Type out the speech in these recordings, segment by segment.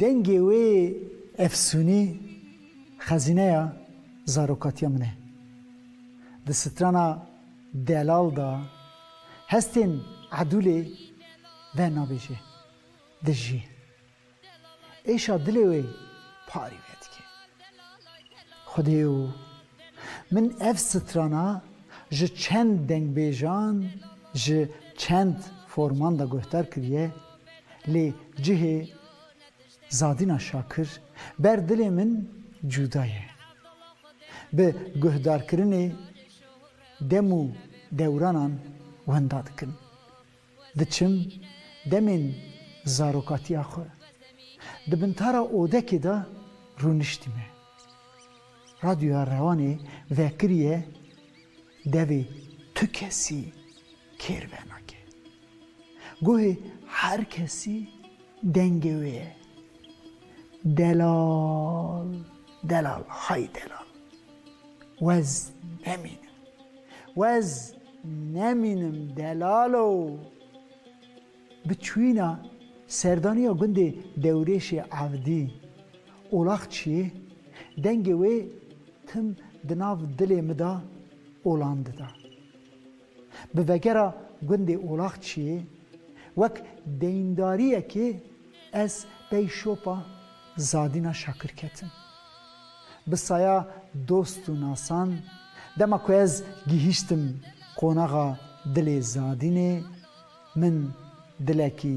Dengê wê efsûnî xezîneya zarokatiya min e. Di strana Delal de hestên Edûlê ve nabêje, dijî Êşa dilê wê parî vedike. Xwedê yo, min ev strana ji çend dengbêjan ji çend forman de guhdar kiriye, lê cihê Zadîna Şakir ber dilê min cuda ye. Bi guhdarkirinê dem û dewranan wenda dikin. Diçim demên zarokatiya xwe di bintara odekê de rûniştîme. Radyoya Rewanê vekiriye devê tu kesî kêr venake. Guhê her kesî dengê wê ye. Delal, delal, hay delal. Wez nemînim. Wez nemînim delalo. Bi çûyîna serdaniya gundê Dewrêşê Evdî, Olaxçiyê, dengê wê tim di nav dilê mi de olan dida. Bi vegera gundê Olaxçiyê wek deyindariyekê ez pey şopa Zadîna Şakir ketim. Bi saya dost û nasan dema ku ez gihîştim qonaxa dilê Zadînê min dilekî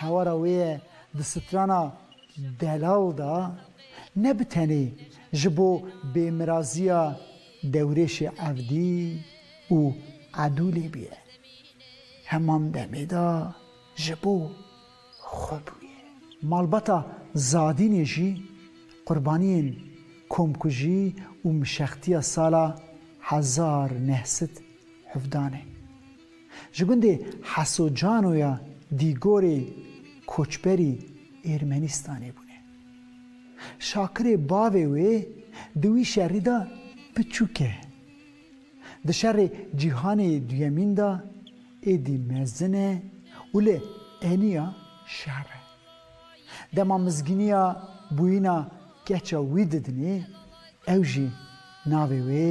Hewara wê ye di strana Delal de ne bi tenê ji bo bêmiraziya dewrêşê Evdî û Edûlê bûye, heman demê de ji bo xwe bûye. Malbata Zadînê jî qurbaniyên komkujî û mişextiya sala hezar neh sed hevdan e. Ji gundê Hesocano ya Dîgorê koçberî Êrmenistanê bûne. Şakirê bavê wê di wî şerî de piçûk e. Di şerê Cîhanê Duyemîn de êdî mezin e û li Eniya şer e. Dema mizgîniya bûyîna keça wî didinê ew jî navê wê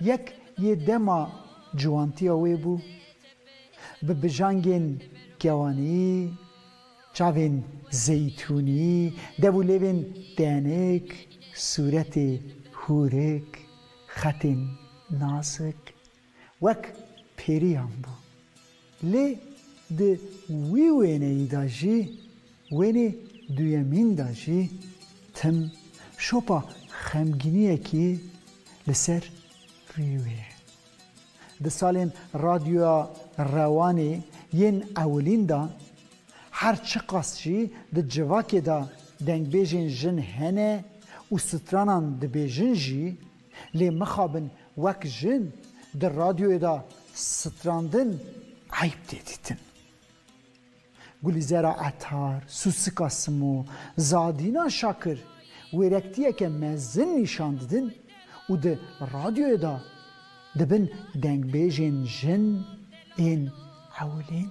Yek yê dema ciwantiya wê bû, bi bijangên kewaniyî, çavên zeytûniyî, dev û lêvên tenik, sûretê hûrik, xetên nazik, Wek pêrîyan bû. Lê di wî wêneyî de jî, wênê duyemîn de jî tim şopa xemgîniyekî li ser rî wê ye. Di salên Radyoya Rewanê yên ewilîn de, her çiqas jî di civakê de dengbêjên jin hene û stranan dibêjin jî, Lê mixabin wek jin di radyoyê de strandin eyb tê dîtin. Gulîzera Etar, Sûsika Simo, Zadîna Şakir wêrektiyeke mezin nîşan didin û di radyoyê de dibin dengbêjên jin ên ewilîn.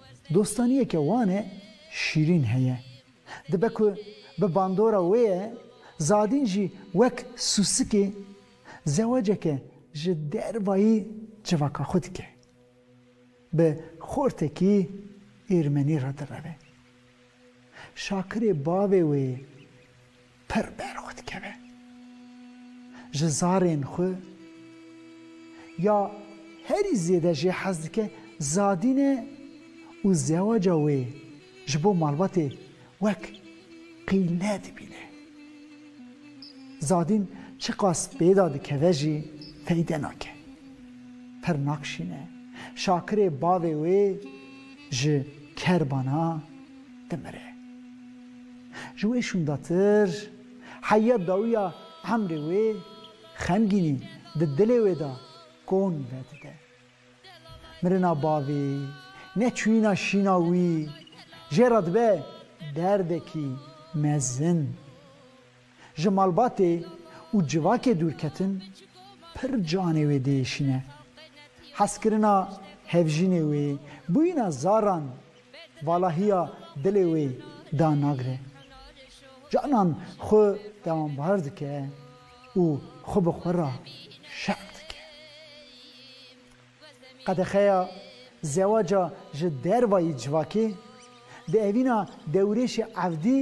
Dostaniyeke wan e şîrîn heye. Dibe ku bi bandora wê ye Zadîn jî wek sûsikê zewaceke ji dervayî civaka xwe dike. Bi xortekî Êrmenî re direve. Şakirê bavê wê pir berxwe dikeve ji zarên xwe ya herî zêde jê hez dike Zadîn e û zewaca wê ji bo malbatê wek qîle dibîne. Zadîn çiqas pêda dikeve jî feyde nake. Pir nakşîne. Şakirê bavê wê. Ji kerbana dimire. Ji wê şûndatir heya dawiya emrê wê xemgînî di dilê wê de kon vedide. Mirina bavê, neçûyîna şîna wî jê re dibe derdekî mezin. Ji malbatê û civakê dûrketin pir canê wê diêşîne. Hezkirina hevjînê wê, bûyîna zaran valahiya dilê wê da nagre. Canan xwe dewambar dike û xwe bi xwe re şerm dike. Qedexeya zewaca ji dervayî civakê, di evîna dewrêşê Evdî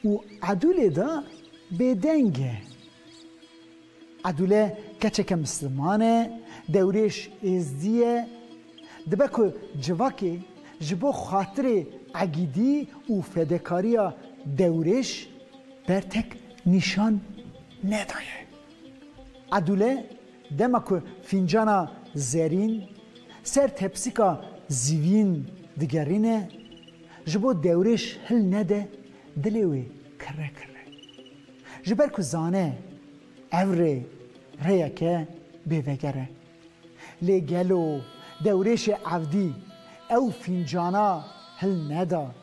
û Edûlê de bêdeng e. Edûle keçeke misliman e, dewrêş êzdî ye, dibe ku civakê ji bo xatirê egîdî û fedekariya dewrêş bertek nîşan nedaye. Edûle Dema ku fîncana zerîn ser tepsîka zîvîn digerîne, ji bo dewrêş hil nede, dilê wê kirre kirre. Ji ber ku zane ev rê rêyeke bêveger e. Lê gelo dewrêşê evdî ew fîncana hil neda?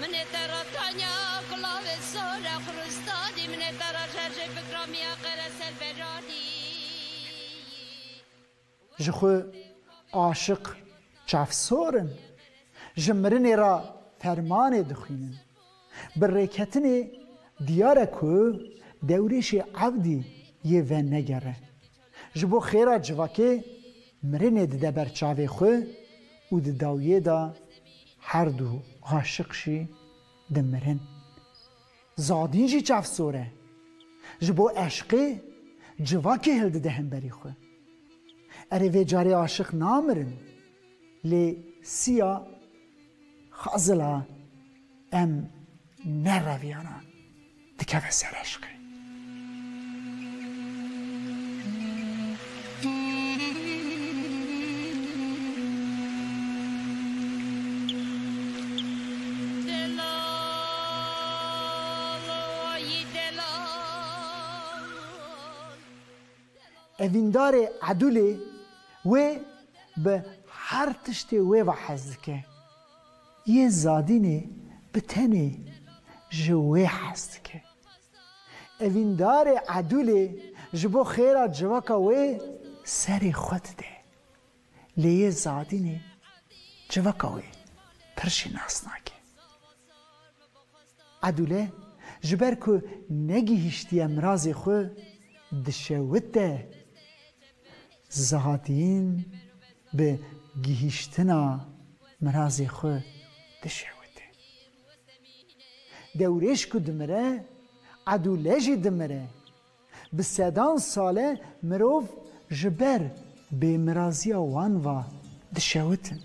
Minê te ra tanya kulavê sor e xuristadî minê te ra jerjê fikra miya qere ser beradî yî. Ji xwe aşiq çavsor in ji mirinê ra fermanê dixwînin. Bi rêketinê diyar e ku dewrêşê evdî yê venegere. Ji bo xêra civakê mirinê dide ber çavê xwe û di dawiyê de her du aşiq jî dimirin. Zadîn jî çavsor e. Ji bo eşqê civakê hildide hemberî xwe. Erê vê carê aşiq namirin lê siya xazil a. Em ne reviyana dikeve ser eşqê. Evîndarê Edûlê wê bi her tiştê wê ve hez dike. yê Zadînê bi tenê ji wê hez dike. Evîndarê Edûlê ji bo xêra civaka wê serê xwe dide. Lê yê Zadînê civaka wê pir jî nas nake. Edûle ji ber ku negihîştiye mirazê xwe dişewite. Zadîn bi gihîştina mirazê xwe dişewite. Dewrêş ku dimire, edûle jî dimire. Bi sedan sale mirov ji ber bêmiraziya wan ve dişewitin.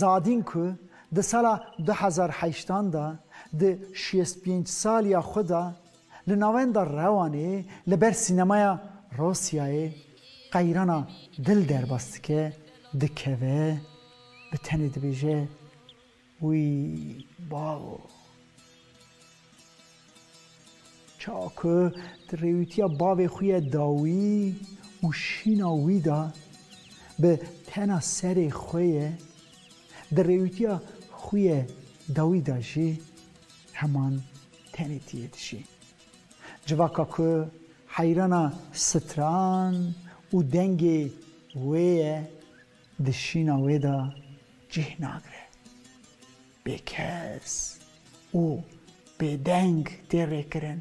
Zadîn ku di sala du hezar heştan de di şêst pênc saliya xwe de Li navenda Rewanê li ber sînemaya Rûsyayê qeyrana dil derbas dike, dikeve, bi tenê dibêje Wî balo. Çawa ku di rêwîtiya bavê xwe ye da wî û şîna wî da, bi tena serê xwe ye, di rêwîtiya xwe ye da wî da jî Heman tenê ti yê dijî. Civaka ku heyrana stran û dengê wê ye di şîna wê de cih nagire. Bêkes û bêdeng tê rêkirin.